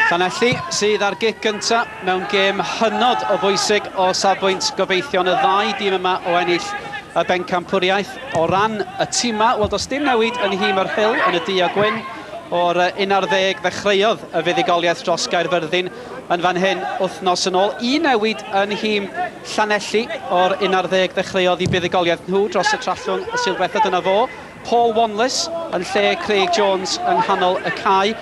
Llanelli sydd ar gic gynta mewn gêm hynod o bwysig o safbwynt gobeithion y ddau dîm yma o ennill y bencampwriaeth. O ran y tîmau, wel does dim newid yn nhîm yr Hill yn y du a gwyn. O'r 11 ddechreuodd y fuddugoliaeth dros Gaerfyrddin yn fan hyn wythnos yn ôl. Un newid yn nhîm Llanelli o'r 11 ddechreuodd i buddugoliaeth nhw dros y Trallwng y Sul Diwethaf. Dyna fo. Paul Wanless yn lle Craig Jones yng nghanol y cae.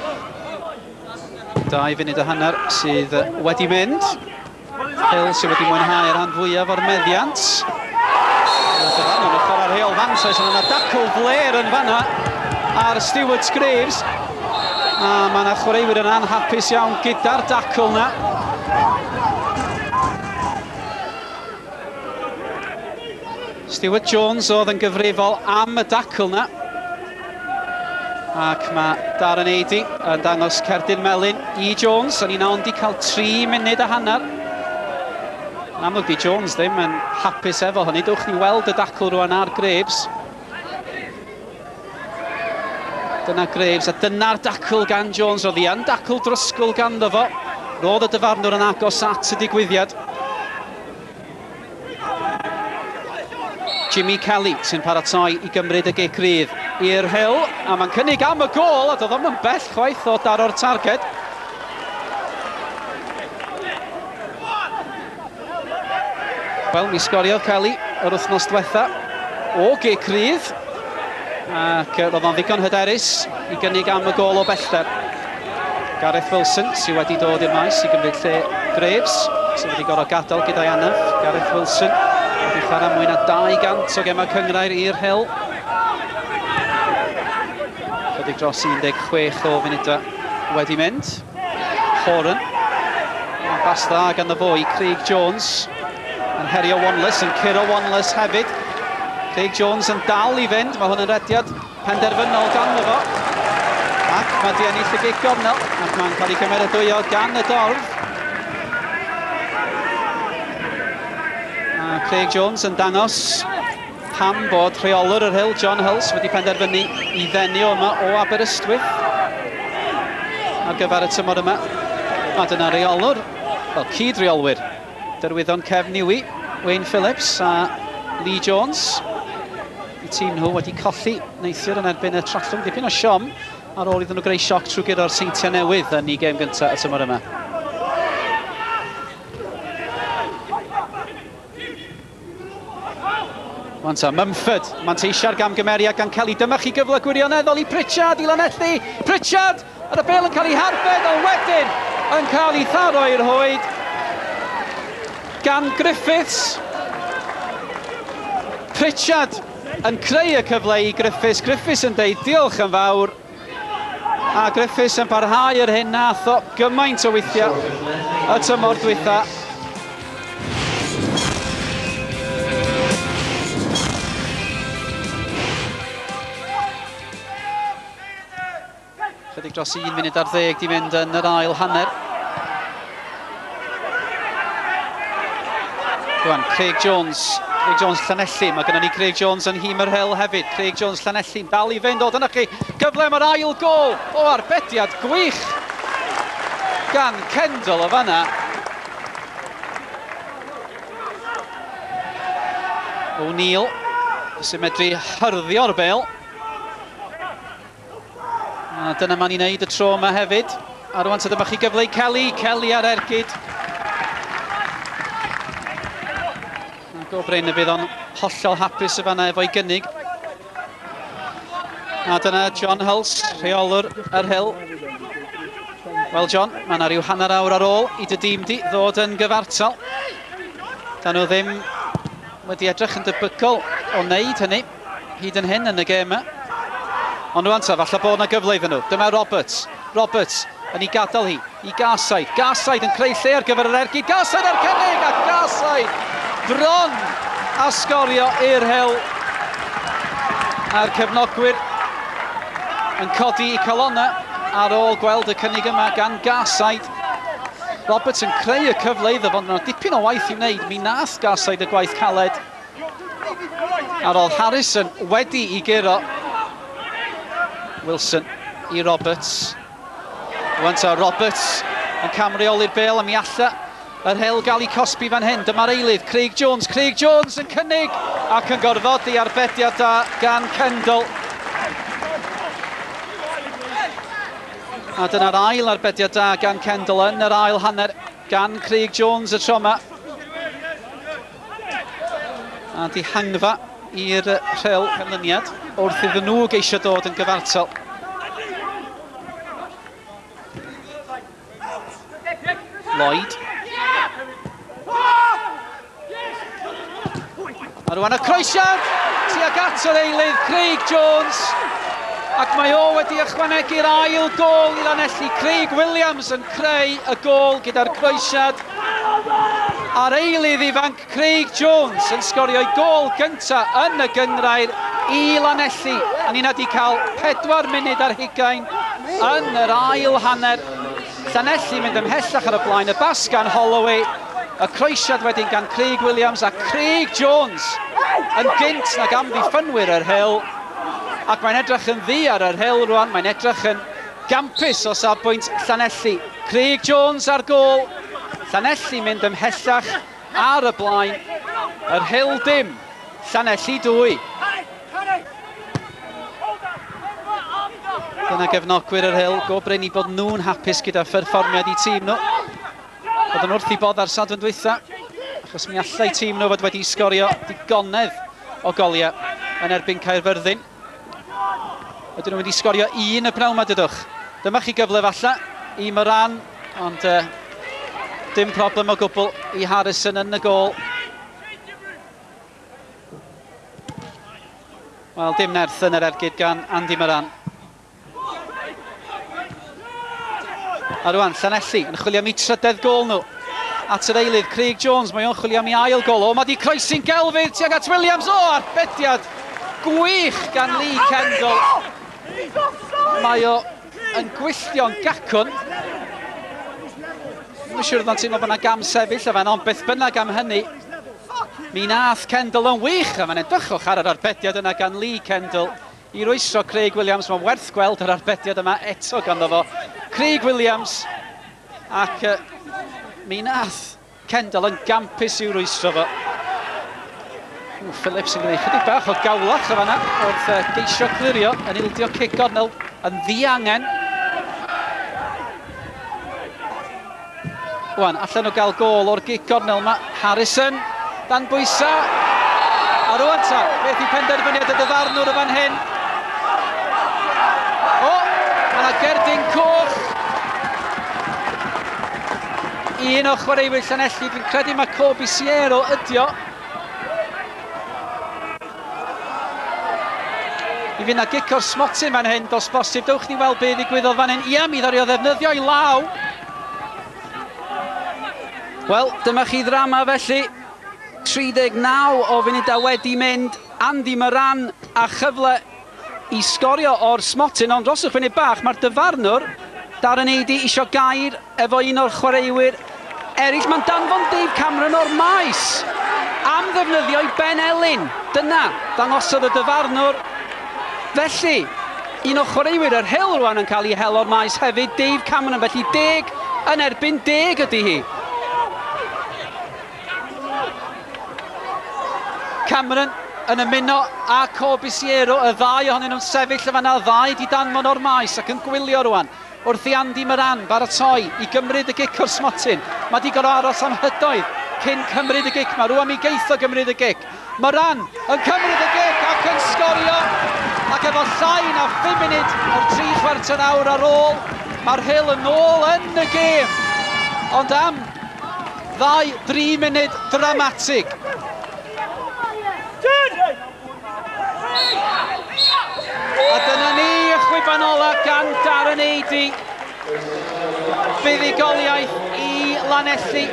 Dau funud a hanner sydd wedi mynd. Hill sydd wedi mwynhau yr rhan fwyaf o'r meddiant. Dylan yn y chwarae rheol fantais ond yna dacl fler yn fanna ar Stewart Graves. A mae yna chwaraewyr yn anhapus iawn gyda'r dacl yna. Stuart Jones oedd yn gyfrifol am y dacl na. Ac mae Darren Eidi yn dangos cerdyn melyn i Jones. O'n i'n ond i cael 3 munud a hanner. Yn amlwg di Jones ddim yn hapus efo hynny. Dwch ni weld y dacl rwan ar Graves. Dyna Graves, a dyna'r dacl gan Jones. Roedd hi yn dacl drysgl ganddo fo. Roedd y dyfarnwr yn agos at y digwyddiad. Jimmy Kelly sy'n paratoi i gymryd y gic rydd i'r Hill, a mae'n cynnig am y gol, a doedd o'm yn bell chwaith o daro'r targed. Wel, mi sgoriodd Kelly yr wythnos diwetha o gic rydd, ac roedd o'n ddigon hyderus i gynnig am y gol o bellter. Gareth Wilson sydd wedi dod i'r maes i gymryd lle Graves, sydd wedi gorfod gadael gyda'i anaf. Gareth Wilson wedi chwarae mwy na 200 o gemau cyngrair i'r Hel. Chydig dros 16 o funudau wedi mynd. Foran. Mae'n bas dda gan y fwy, Craig Jones. Yn herio Wanless, yn curo Wanless hefyd. Craig Jones yn dal i fynd, mae hwn yn rediad penderfynol gan fo. Ac mae di ennill y gig gornel, ac mae'n cael ei gymeradwyo gan y dorf. A Craig Jones yn dangos pam bod rheolwr yr Hill, John Hulse, wedi penderfynu i ddenu o yma o Aberystwyth ar gyfer y tymor yma. A dyna reolwr, fel cyd-reolwyr, derwyddon Cefn Niwi, Wayne Phillips a Lee Jones. Y tîm nhw wedi colli neithiwr yn erbyn y Trallwng dipyn o siom ar ôl iddyn nhw greu sioc trwy guro'r Seintiau Newydd yn ei gêm gyntaf y tymor yma. Wan ta, Mumford, manteisia'r gamgymeriad gan Kelly. Dyma chi gyfle gwirioneddol i Pritchard i lanelli. Pritchard, ar y bel yn cael ei harbed, ond wedyn yn cael ei tharo i'r hoed gan Griffiths. Pritchard yn creu y cyfle i Griffiths. Griffiths yn deud diolch yn fawr. A Griffiths yn parhau yr hyn nath o gymaint o weithia y tymor dwytha. Chydig dros un munud ar ddeg di mynd yn yr ail hanner. Rwan, Craig Jones. Craig Jones Llanelli. Mae gennym ni Craig Jones yn hîm yr hel hefyd. Craig Jones Llanelli'n dal i fynd. O, dyna chi. Cyfle mae'r ail gol. O, arbediad gwych gan Kendall o fanna. O'Neill sy'n medru hyrddio o'r bel. A dyna ma'n i wneud y tro yma hefyd. A rwan ta dyma chi gyfle i Kelly, Kelly ar ergyd. A go Bryn y bydd o'n hollol hapus y fanna efo'i gynnig. A dyna John Hulse, rheolwr yr Hill. Wel John, mae yna rhyw hanner awr ar ôl i dy dîm di ddod yn gyfartal. Da nhw ddim wedi edrych yn debygol o wneud hynny. hyd yn hyn yn y gêm. Ond rwan ta, falle bod yna gyfle iddyn nhw. Dyma Roberts. Roberts yn ei gadael hi i Garside. Garside yn creu lle ar gyfer yr ergyd. Garside ar cynnig a Garside bron a sgorio i'r hewl. A'r cefnogwyr yn codi i calonna ar ôl gweld y cynnig yma gan Garside. Roberts yn creu y cyfle iddo fo, ond mae dipyn o waith i wneud. Mi nath Garside y gwaith caled. A roedd Harrison wedi i guro. Wilson i Roberts. Rwy'n ta Roberts yn camreoli'r bel a mi alla yr hel gael ei cosbi fan hyn. Dyma'r eilydd, Craig Jones. Craig Jones yn cynnig ac yn gorfodi arbediad da gan Kendall. A dyna'r ail arbediad da gan Kendall yn yr ail hanner gan Craig Jones y tro yma. A dihangfa i'r rhel canlyniad wrth iddyn nhw geisio dod yn gyfartal. Lloyd. A rwan y croesiad tuag at yr eilydd Craig Jones ac mae o wedi ychwanegu'r ail gol i'r anelli. Craig Williams yn creu y gol gyda'r croesiad A'r eilydd ifanc Craig Jones yn sgorio'i gôl gyntaf yn y gynghrair i Lanelli a ni wedi cael pedwar munud ar hugain yn yr ail hanner. Llanelli mynd ymhellach ar y blaen, y bas gan Holloway, y croesiad wedyn gan Craig Williams a Craig Jones yn gynt nag amddiffynwyr yr Hill ac mae'n edrych yn ddu ar yr Hill rwan, mae'n edrych yn Gampus o safbwynt Llanelli. Craig Jones ar gôl. Llanelli mynd ymhellach ar y blaen. Yr Hill dim, Llanelli dwy. Dyna gefnogwyr yr Hill, go brin i bod nhw'n hapus gyda pherfformiad i tîm nhw. Bod yn wrth i bodd ar Sadwrn dwytha, achos mi allai tîm nhw fod wedi sgorio digonedd o goliau yn erbyn Caerfyrddin. Ydyn nhw wedi sgorio un y pnawn ma dydwch? Dyma chi gyfle falla i Moran, ond uh, dim problem o gwbl i Harrison yn y gol. Wel, dim nerth yn yr ergyd gan Andy Moran. A rwan, Llanelli yn chwilio am eu trydedd gol nhw. At yr eilydd, Craig Jones, mae o'n chwilio am ei ail gol. O, mae di croesi'n gelfydd tuag at Williams. O, arbediad gwych gan Lee Kendall. Mae o yn gwylltio'n gacwn. Mae'n siŵr ddant teimlo bod yna gam sefyll o fan, ond beth bynnag am hynny. Mi nath Kendall yn wych, a mae'n edrychwch ar yr arbediad yna gan Lee Kendall. I rwystro Craig Williams, mae'n werth gweld yr arbediad yma eto ganddo fo. Craig Williams, ac uh, mi nath Kendall yn gampus i'w rwystro fo. Ww, Phillips yn gwneud chydig bach o gawlach o fanna wrth uh, geisio clirio yn ildio cic gornel yn ddiangen. Wan allan o gael gol o'r gig gornel mae Harrison dan bwysa. A rwan ta, beth yw penderfyniad y dyfarnwr y fan hyn? O, mae yna gerdyn coch. Un o chwaraewyr Llanelli, dwi'n credu mae Corby Siero ydio. I fynd â gic o'r smotyn fan hyn, dos bosib, dewch ni weld be ddigwyddodd fan hyn. Ia, mi ddario ddefnyddio i law. Wel, dyma chi ddrama felly. 39 o funudau wedi mynd, Andy Moran a chyfle i sgorio o'r smotyn ond dros y funud bach mae'r dyfarnwr Darren Eadie isio gair efo un o'r chwaraewyr eraill. Mae'n danfon Dave Cameron o'r maes am ddefnyddio i Ben Elin. Dyna ddangosodd y dyfarnwr. Felly, un o chwaraewyr yr Hill rwan yn cael ei hel o'r maes hefyd, Dave Cameron. Felly deg yn erbyn deg ydy hi. Cameron yn ymuno â Corbisiero, y ddau ohonyn nhw'n sefyll yn fan'na, ddau di danfon o'r maes ac yn gwylio rwan wrth i Andy Moran baratoi i gymryd y gic o'r smotyn. Mae di gorau aros am hydoedd cyn cymryd y gic ma, rwan mi geitho gymryd y gic. Moran yn cymryd y gic ac yn sgorio, ac efo llai na phum munud o'r tri chwarter awr ar ôl, mae'r Rhyl yn ôl yn y gêm. Ond am ddau, dri munud dramatig. A dyna ni, chwiban ola gan Darren Eiddy. Buddugoliaeth i Lanelli.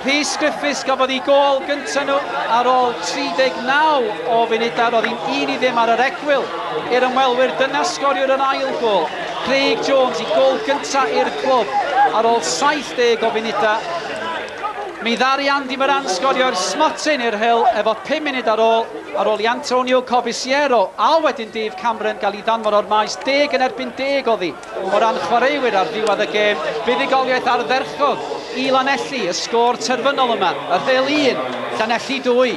Rhys Griffiths gafodd i gol gyntaf nhw ar ôl 39 o funudau. Roedd hi'n un i ddim ar yr egwyl i'r ymwelwyr. Dyna sgoriwr yr ail gol. Craig Jones i gol gyntaf i'r clwb ar ôl 70 o funudau. Mi ddari Andy Moran sgorio'r smotyn i'r Hill efo 5 munud ar ôl Ar ol i Antonio Corbisiero, a wedyn Dave Cameron gael i ddanfon o'r maes deg yn erbyn deg oddi o ran chwaraewyr ar ddiwedd y gêm, buddugoliaeth ardderchog i Lanelli, y sgôr terfynol yma, y rhel un, Llanelli dwy.